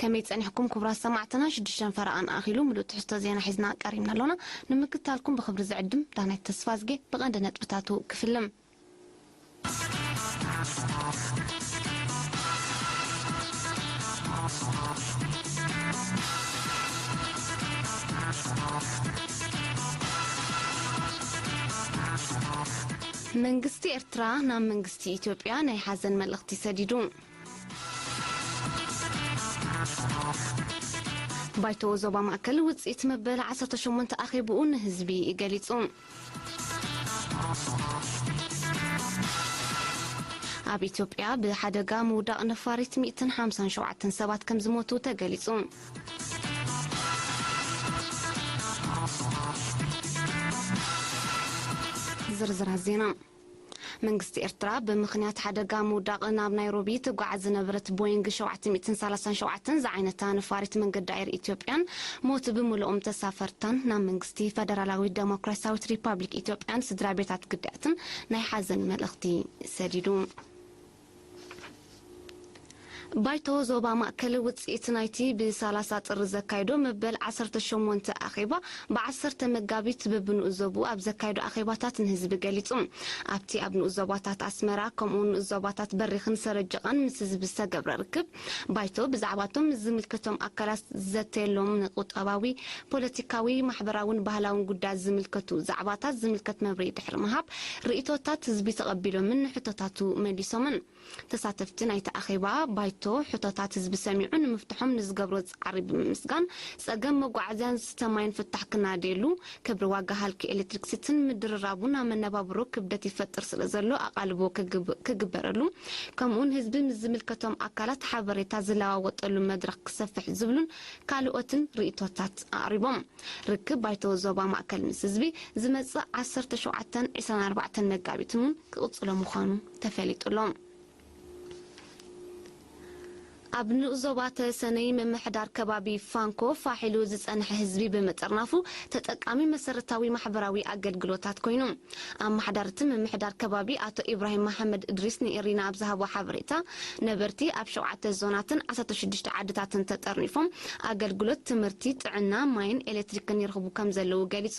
ከመይ ጸኒሕኩም ኩቡራት ሰማዕትና ሽዱሽተ ፈረቓን ኣኺሉ ምሉእ ትሕዝቶ ዜና ሒዝና ቀሪብና ኣሎና ንምክትታልኩም ብኽብሪ ዝዕድም ዳናይት ተስፋዝጌ ብቐንዲ ነጥብታቱ ክፍልም። መንግስቲ ኤርትራ ናብ መንግስቲ ኢትዮጵያ ናይ ሓዘን መልእኽቲ ሰዲዱ። ባይቶ ዞባ ማእከል ውጽኢት መበል ዓሰርተ ሸሞንተ ኣኼብኡ ንህዝቢ ገሊጹ። ኣብ ኢትዮጵያ ብሓደጋ ምውዳቕ ነፋሪት ሚእትን ሓምሳን ሸውዓተን ሰባት ከም ዝሞቱ ተገሊጹ። ዝርዝራት ዜና መንግስቲ ኤርትራ ብምኽንያት ሓደጋ ምውዳቕ ናብ ናይሮቢ ትጓዓዝ ዝነበረት ቦይንግ ሸውዓተ ሚእትን ሰላሳን ሸውዓተን ዝዓይነታ ነፋሪት መንገዲ ኣየር ኢትዮጵያን ሞት ብምልኦም ተሳፈርታን ናብ መንግስቲ ፈደራላዊት ደሞክራሲያዊት ሪፓብሊክ ኢትዮጵያን ስድራቤታት ግዳያትን ናይ ሓዘን መልእኽቲ ሰዲዱ። ባይቶ ዞባ ማእከል ውጽኢት ናይቲ ብሳላሳ ጥሪ ዘካይዶ መበል ዓሰርተ ሸሞንተ ኣኼባ ብዓሰርተ መጋቢት በብንኡስ ዞብኡ ኣብ ዘካይዶ ኣኼባታት ንህዝቢ ገሊጹ። ኣብቲ ኣብ ንኡስ ዞባታት ኣስመራ ከምኡ'ውን ንኡስ ዞባታት በሪኽን ሰረጀቓን ምስ ህዝቢ ዝተገብረ ርክብ፣ ባይቶ ብዛዕባ'ቶም ምስ ዝምልከቶም ኣካላት ዝዘተየሎም ንቁጠባዊ፣ ፖለቲካዊ፣ ማሕበራውን ባህላውን ጉዳያት ዝምልከቱ ዛዕባታት ዝምልከት መብርሂ ድሕሪ ምሃብ፣ ርእይቶታት ህዝቢ ተቐቢሎምን ንሕቶታቱ መሊሶምን። ተሳተፍቲ ናይቲ ኣኼባ ባይቶ ሕቶታት ህዝቢ ሰሚዑ ንምፍትሖም ንዝገብሮ ጻዕሪ ብምምስጋን፣ ጸገም መጓዓዝያን ዝስተ ማይን ፍታሕ ክናደየሉ፣ ክብሪ ዋጋ ሃልኪ ኤሌክትሪክ ሲቲን ምድርራቡን ኣብ መነባብሮ ክብደት ይፈጥር ስለዘሎ ኣቓልቦ ክግበረሉ ከምኡውን ህዝቢ ምስ ዝምልከቶም ኣካላት ሓበሬታ ዝለዋወጠሉ መድረኽ ክሰፍሕ ዝብሉን ካልኦትን ርኢቶታት ኣቕሪቦም። ርክብ ባይቶ ዞባ ማእከል ምስ ህዝቢ ዝመጽእ ዓሰርተ ሸውዓተን ዕስራን ኣርባዕተን መጋቢትን እውን ክቕጽሎ ምዃኑ ተፈሊጡ'ሎ። ኣብ ንኡስ ዞባ ተሰነይ ምምሕዳር ከባቢ ፋንኮ ፋሕ ኢሉ ዝፀንሐ ህዝቢ ብምጥርናፉ ተጠቃሚ መሰረታዊ ማሕበራዊ ኣገልግሎታት ኮይኑ። ኣማሓዳሪ እቲ ምምሕዳር ከባቢ ኣቶ ኢብራሂም መሓመድ እድሪስ ንኤሪና ኣብ ዝሃቦ ሓበሬታ ነበርቲ ኣብ ሸውዓተ ዞናትን ዓሰርተ ሽዱሽተ ዓድታትን ተጠርኒፎም ኣገልግሎት ትምህርቲ፣ ጥዕና፣ ማይን ኤሌክትሪክን ይረኽቡ ከምዘለዉ ገሊፁ።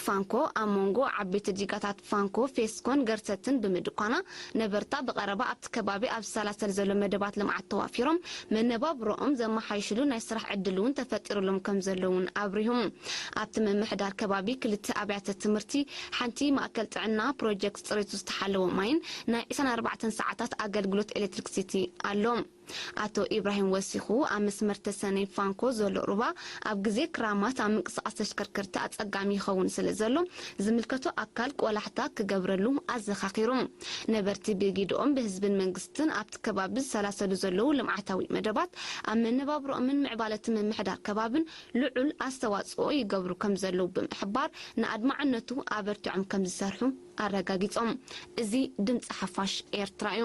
ፋንኮ ኣብ ሞንጎ ዓበይቲ ዲጋታት ፋንኮ፣ ፌስኮን ገርሰትን ብምድኳና፣ ነበርታ ብቐረባ ኣብቲ ከባቢ ኣብ ዝሰላሰል ዘሎ መደባት ልምዓት ተዋፊሮም መነባብሮኦም ዘመሓይሽሉ ናይ ስራሕ ዕድል'ውን ተፈጢሩሎም ከምዘሎ'ውን ኣብሪሁ። ኣብቲ ምምሕዳር ከባቢ ክልተ ኣብያተ ትምህርቲ፣ ሓንቲ ማእከል ጥዕና፣ ፕሮጀክት ጽሬቱ ዝተሓለወ ማይን ናይ ዕስራን ኣርባዕተን ሰዓታት ኣገልግሎት ኤሌክትሪክሲቲ ኣሎ። ኣቶ ኢብራሂም ወሲኹ፣ ኣብ መስመር ተሰነይ ፋንኮ ዘሎ ሩባ ኣብ ግዜ ክራማት ኣብ ምንቅስቓስ ተሽከርከርቲ ኣጸጋሚ ይኸውን ስለዘሎ ዝምልከቶ ኣካል ቆላሕታ ክገብረሉ ኣዘኻኺሩ። ነበርቲ ብግደኦም፣ ብህዝብን መንግስትን ኣብቲ ከባቢ ዝሰላሰሉ ዘለዉ ልምዓታዊ መደባት ኣብ መነባብሮኦምን ምዕባለቲ ምምሕዳር ከባብን ልዑል ኣስተዋጽኦ ይገብሩ ከምዘለዉ ብምሕባር ንኣድማዕነቱ ኣበርቲዖም ከምዝሰርሑ ኣረጋጊጾም። እዚ ድምጺ ሓፋሽ ኤርትራ'ዩ።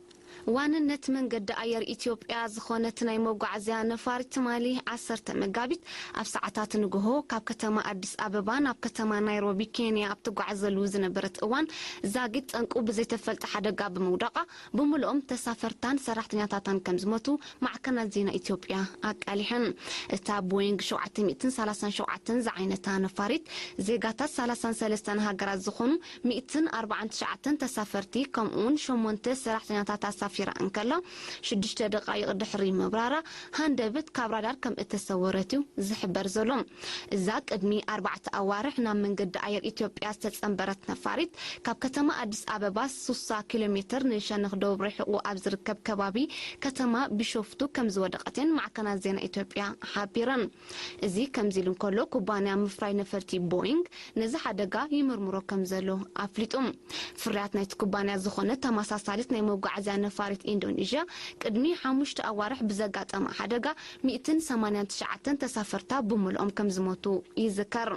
ዋንነት መንገዲ ኣየር ኢትዮጵያ ዝኾነት ናይ መጓዓዝያ ነፋሪት ትማሊ ዓሰርተ መጋቢት ኣብ ሰዓታት ንጉሆ ካብ ከተማ ኣዲስ ኣበባ ናብ ከተማ ናይሮቢ ኬንያ ኣብ ትጓዓዘሉ ዝነበረት እዋን ዛጊት ጠንቁ ብዘይተፈልጠ ሓደጋ ብምውዳቓ ብምሉኦም ተሳፈርታን ሰራሕተኛታታን ከምዝሞቱ ማዕከናት ዜና ኢትዮጵያ ኣቃሊሐን። እታ ቦይንግ ሸውዓተ ሚእትን ሰላሳን ሸውዓተን ዝዓይነታ ነፋሪት ዜጋታት ሰላሳን ሰለስተን ሃገራት ዝኾኑ ሚእትን ኣርባዓን ትሽዓተን ተሳፈርቲ ከምኡ'ውን ሸሞንተ ሰራሕተኛታት ኣሳፊራ እንከላ፣ ሽዱሽተ ደቓይቕ ድሕሪ ምብራራ ሃንደብት ካብ ራዳር ከምእተሰወረት'ዩ ዝሕበር ዘሎ። እዛ ቅድሚ ኣርባዕተ ኣዋርሕ ናብ መንገዲ ኣየር ኢትዮጵያ ዝተጸንበረት ነፋሪት፣ ካብ ከተማ ኣዲስ ኣበባ ሱሳ ኪሎ ሜተር ንሸነኽ ደቡብ ርሒቑ ኣብ ዝርከብ ከባቢ ከተማ ቢሾፍቱ ከምዝወደቐት'የን ማዕከናት ዜና ኢትዮጵያ ሓቢረን። እዚ ከምዚ ኢሉ እንከሎ ኩባንያ ምፍራይ ነፈርቲ ቦይንግ ነዚ ሓደጋ ይምርምሮ ከምዘሎ ኣፍሊጡ። ፍርያት ናይቲ ኩባንያ ዝኾነት ተመሳሳሊት ናይ መጓዓዝያ ነፋሪት ኢንዶኒዥያ ቅድሚ ሓሙሽተ ኣዋርሕ ብዘጋጠማ ሓደጋ ሚእትን ሰማንያን ትሽዓተን ተሳፈርታ ብምልኦም ከምዝሞቱ ይዝከር።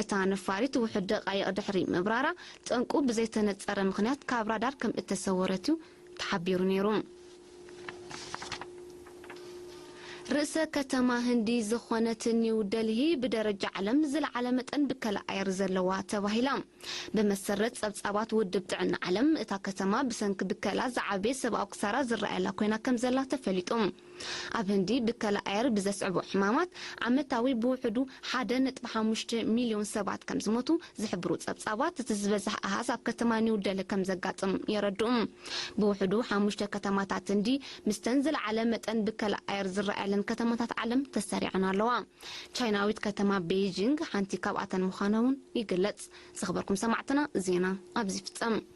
እታ ነፋሪት ውሑድ ደቓይቕ ድሕሪ ምብራራ ጠንቁ ብዘይተነጸረ ምኽንያት ካብ ራዳር ከምእተሰወረት'ዩ ተሓቢሩ ነይሩ። ርእሰ ከተማ ህንዲ ዝኾነት ኒው ደልሂ ብደረጃ ዓለም ዝለዓለ መጠን ብከላ ኣየር ዘለዋ ተባሂላ። ብመሰረት ጸብጻባት ውድብ ጥዕና ዓለም፣ እታ ከተማ ብሰንኪ ብከላ ዝዓበየ ሰብኣዊ ክሳራ ዝረኣየላ ኮይና ከምዘላ ተፈሊጡ። ኣብ ህንዲ ብከላ ኣየር ብዘስዕቦ ሕማማት ዓመታዊ ብውሕዱ ሓደ ነጥቢ ሓሙሽተ ሚልዮን ሰባት ከምዝሞቱ ዝሕብሩ ጸብጻባት፣ እቲ ዝበዝሐ ኣሃዝ ኣብ ከተማ ኒው ደልሂ ከምዘጋጥም የረድኡ። ብውሕዱ ሓሙሽተ ከተማታት ህንዲ ምስተን ዝለዓለ መጠን ብከላ ኣየር ዝረኣየለን ከተማታት ዓለም ተሰሪዐን ኣለዋ። ቻይናዊት ከተማ ቤይጂንግ ሓንቲ ካብኣተን ምዃና'ውን ይግለጽ። ዝኽበርኩም ሰማዕትና ዜና ኣብዚ ይፍጸም።